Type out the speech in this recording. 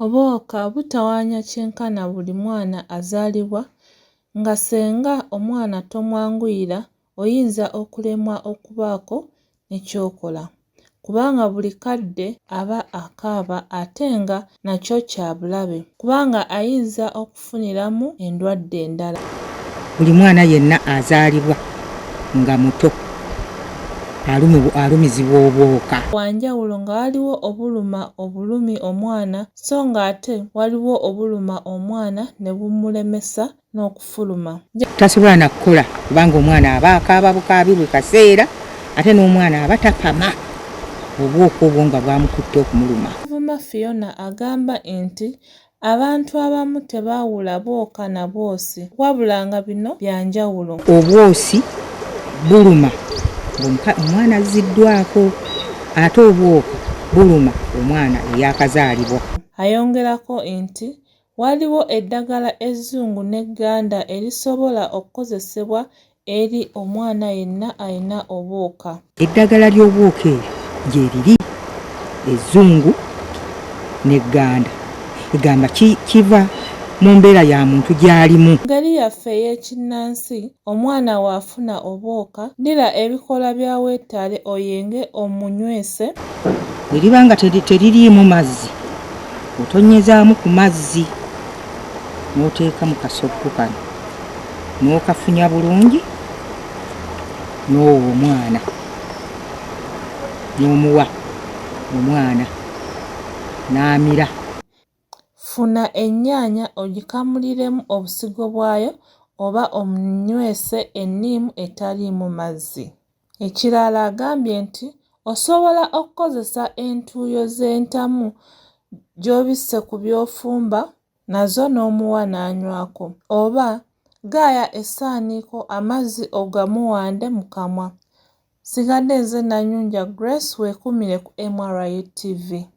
Obwoka butawaanya kyenkana buli mwana azaalibwa nga ssenga omwana tomwanguyira oyinza okulemwa okubaako ne ky'okola. kubanga buli kadde aba akaaba ate nga nakyo kya bulabe kubanga ayinza okufuniramu endwadde endala. Buli mwana yenna azaalibwa nga muto alumizibwa obwoka. Wa njawulo nga waliwo obuluma obulumi omwana so ng'ate waliwo obuluma omwana ne bumulemesa n'okufuluma. Tasobola na kukola kubanga omwana aba akaaba bukaabi buli kaseera ate n'omwana aba tapama obwoko obwo nga bwamukutte okumuluma. Kavuma Fiona agamba nti abantu abamu tebaawula bwoka na bwosi wabula nga bino bya njawulo. Obwosi buluma ng'omwana azziddwaako ate obwoko buluma omwana eyaakazaalibwa. Ayongerako nti Waliwo eddagala ezzungu n'egganda erisobola okukozesebwa eri omwana yenna alina obuuka. Eddagala ly'obuuka eryo gyeriri ezzungu n'egganda egamba kiva mu mbeera ya muntu gy'alimu. Mu ngeri yaffe ey'ekinnansi, Omwana wo afuna obwoka, ddira ebikoola bya weetaale oyenge omunywese. Bwe liba nga teririimu mazzi, otonyezaamu ku mazzi n'oteeka mu kasoggo kano n'okafunya bulungi n'owa omwana n'omuwa omwana n'amira. Funa ennyaanya ogikamuliremu obusigo bwayo oba omunywese enniimu etaliimu mazzi. Ekirala agambye nti osobola okukozesa entuuyo z'entamu gy'obisse ku by'ofumba nazo n'omuwa n'anywako oba gaaya essaaniiko amazzi ogamuwande mu kamwa. Nsigadde nze Nanyunja Grace weekuumire ku MRU TV.